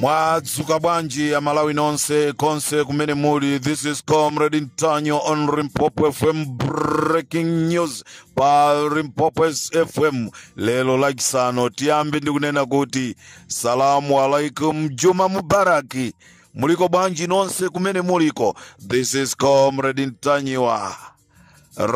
mwadzuka bwanji amalawi nonse konse kumene muli this is comrade ntanyiwa on limpopo fm breaking news pa limpopo fm lero lachisanu tiyambe ndikunena kuti salamu alaikum juma mubaraki muliko bwanji nonse kumene muliko this is comrade ntanyiwa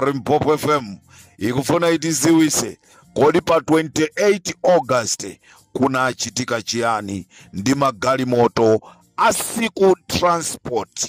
limpopo fm ikufuna itiziwise kodi pa 28 august kunachitika chiyani ndi magalimoto a siku transport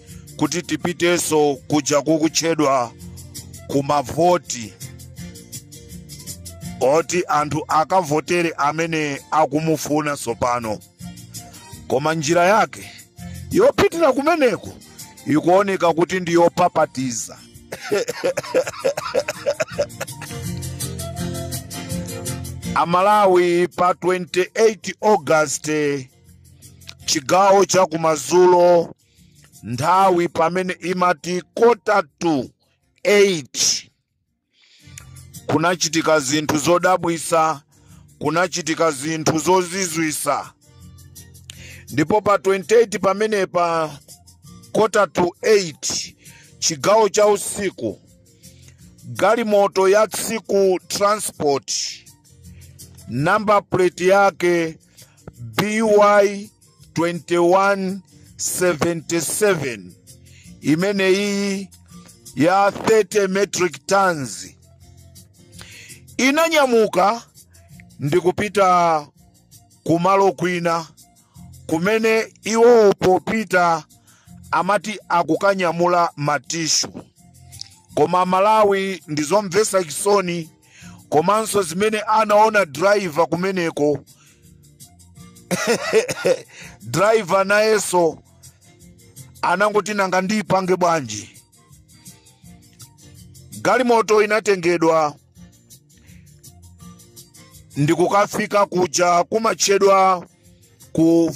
kuti tipitenso kuja kukutchedwa kumavoti oti anthu akavotere amene akumufuna tsopano koma njira yake yopitira kumeneko ikuoneka kuti ndi yopapatiza amalawi pa 28 august chigawo cha kumadzulo nthawi pamene imati kota to 8 kunachitika zinthu zodabwisa kunachitika zinthu zozizwisa ndipo pa 28 pamenepa kota to 8 chigawo cha usiku galimoto ya siku transport namba plate yake by 2177 imene iyi ya 30 metric tons inanyamuka ndi kupita kumalo kwina kumene iwowo popita amati akukanyamula matishu koma amalawi ndizomvesa chisoni komanso zimene anaona driver kumeneko driver nayenso anangoti nanga ndipange bwanji galimoto inatengedwa ndikukafika kuja kumatchedwa ku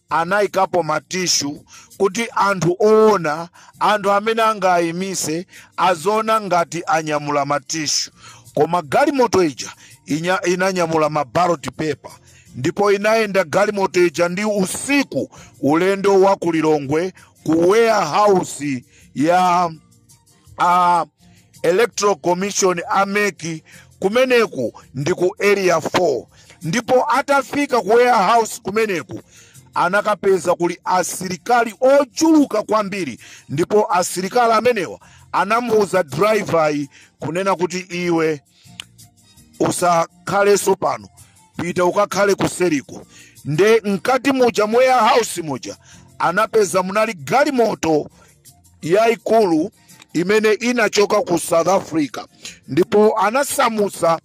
anaikapo matishu kuti anthu oona anthu amene angaayimise aziona ngati anyamula matishu koma galimoto ija inanyamula mabaloti pepa ndipo inayenda galimoto ija ndi usiku ulendo wa kulilongwe ku warehouse ya a electoral commission a mek kumeneku ndi ku area 4 ndipo atafika ku warehouse kumeneku anakapeza kuli asilikali ochuluka kwambiri ndipo asilikali amenewa anamuuza driver-yi kunena kuti iwe usakhalenso pano pita ukakhale kuseriko nde mkati muja mu warehouse muja anapeza munali galimoto yaikulu imene inachoka ku south africa ndipo anasamusa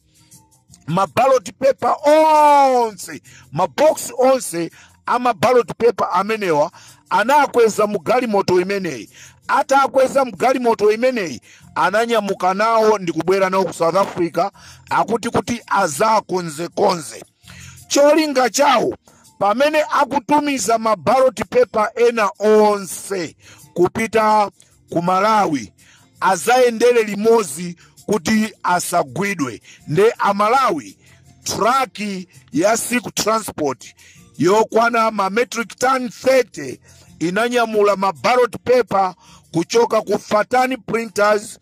ma ballot paper onse maboksi onse a ma ballot paper amenewa anakweza mu galimoto imeneyi atakweza mu galimoto imeneyi ananyamuka nawo ndikubwera nawo ku south africa akuti kuti azakonzekonze Cholinga chawo pamene akutumiza ma ballot paper ena onse kupita ku Malawi azayendere limodzi kuti asagwidwe nde Amalawi truck ya Siku transport yokwana ma metric ton 30 inanyamula ma ballot paper kuchoka ku Fatani Printers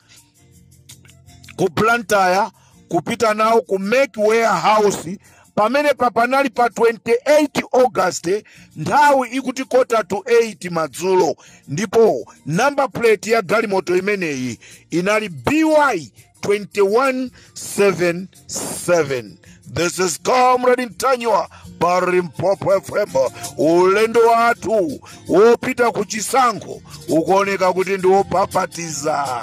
ku blantyre kupita nawo ku mek warehouse pamene apa panali pa 28 august nthawi ikuti kota to 8 madzulo ndipo namba plate ya galimoto imeneyi inali by 217 7 this is comrade ntanyiwa pa limpopo fm ulendo wathu wopita ku chisankho ukuoneka kuti ndi wopapatiza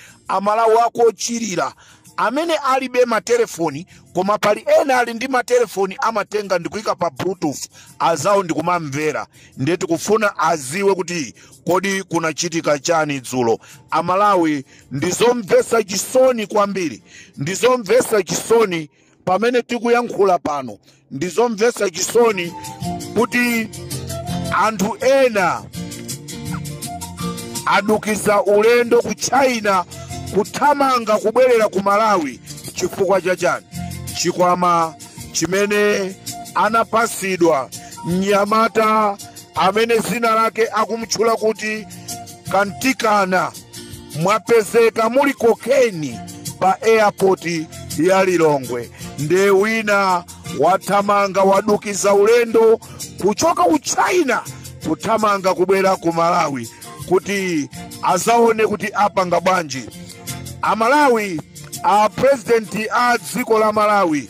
Amalawi aku Chilira amene alibe matelefoni koma pali ena ali ndi matelefoni amatenga ndikuika pa bluetooth azawo ndikumamvera ndiye tikufuna aziwe kuti kodi kunachitika chani dzulo amalawi ndizomvesa chisoni kwambiri ndizomvesa chisoni pamene tikuyankhula pano ndi zomvesa chisoni kuti anthu ena adukiza ulendo ku china kuthamanga kubwerera ku malawi chifukwa cha chani chikwama chimene anapasidwa mnyamata amene zina lake akumtchula kuti Kantikana mwapezeka muli cocaine pa airport ya Lilongwe nde wina wathamanga wadukiza ulendo kuchoka ku China kuthamanga kubwera ku Malawi kuti azaone kuti apanga bwanji. Amalawi a president a dziko la Malawi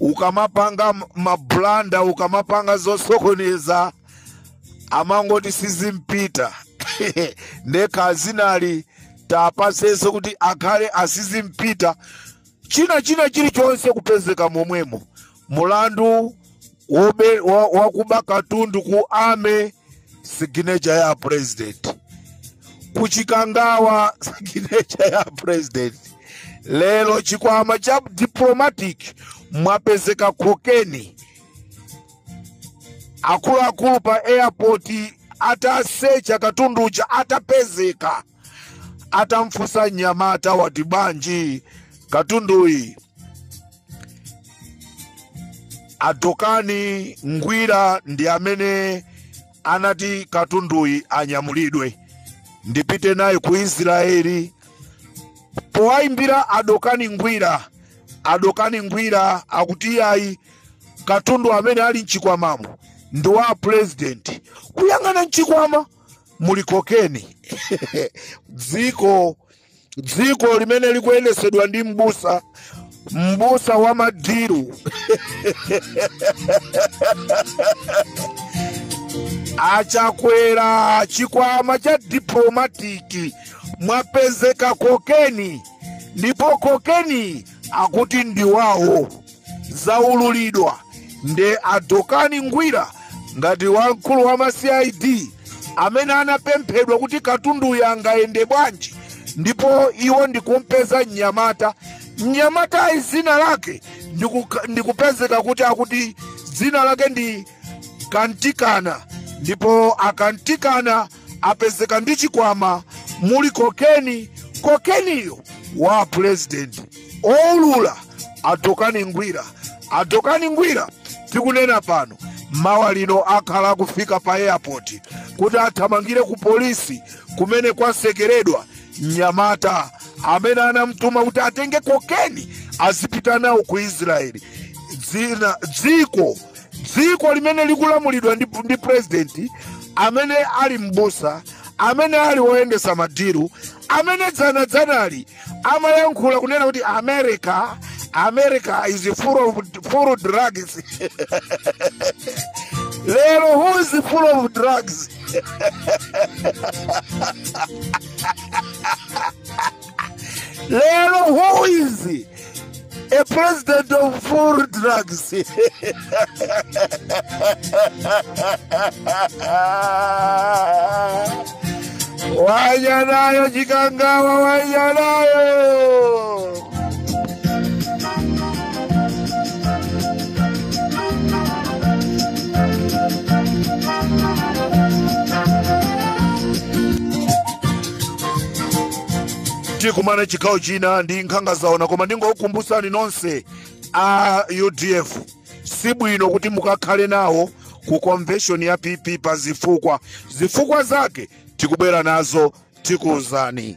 ukamapanga m- mabulanda ukamapanga zosokoneza amangoti sizimpita ndekha zinalitapasenso kuti akhale asizimpita china china chilichonse kupezeka momwemo mulandu wakuba katundu ku ame siginecha ya president ku Chikangawa siginecha ya president lero chikwama cha diplomatic mwapezeka kokeni akuluakulu pa airport atasecha katunduja atapezeka atamfunsa mnyamata wati bwanji katunduyi a Dokani Ngwira ndi amene anati katunduyi anyamulidwe ndipite naye ku israeli powayimbira a Dokani Ngwira a Dokani Ngwira akuti ayi katundu amene ali mchikwamamo ndi wa purezidenti kuyang'ana mchikwama muli kokeni dziko dziko limene likuyendetsedwa ndi mbusa mbusa wa madiru a Chakwera chikwama cha diplomatiki mwapezeka kokeni ndipo kokeni akuti ndi wawo zaululidwa nde a Dokani Ngwira ngati wamkulu wa ma cid amene anapemphedwa kuti katunduyo angayende bwanji ndipo iwo ndikumpeza mnyamata mnyamatayi dzina lake ndikupezeka kuti akuti dzina lake ndi kantikana ndipo a Kantikana apezeka ndi chikwama muli kokeni kokeniyo wa pulezidenti owulula a Dokani Ngwira a Dokani Ngwira tikunena pano mawa lino akhala akufika pa airport kuti athamangire ku polisi kumene kwasekeredwa mnyamata amene anamtuma kuti atenge kokeni azipita nawo ku israeli dzina dziko dziko limene likulamulidwa ndi, ndi purezidenti amene ali m'busa amene ali woyendesa madiru amene dzana dzanali amayankhula kunena kuti america america is full of, full of drugs lero who is full of drugs lero who is a president of full drugs wanya nayo chikangawa wanya nayo tikumane chigawo china ndi nkhanga zaona koma ndingokukumbusani nonse a udf si bwino kuti mukakhale nawo ku convention ya pp pa zifukwa zifukwa zake tikubwera nazo tikuwuzani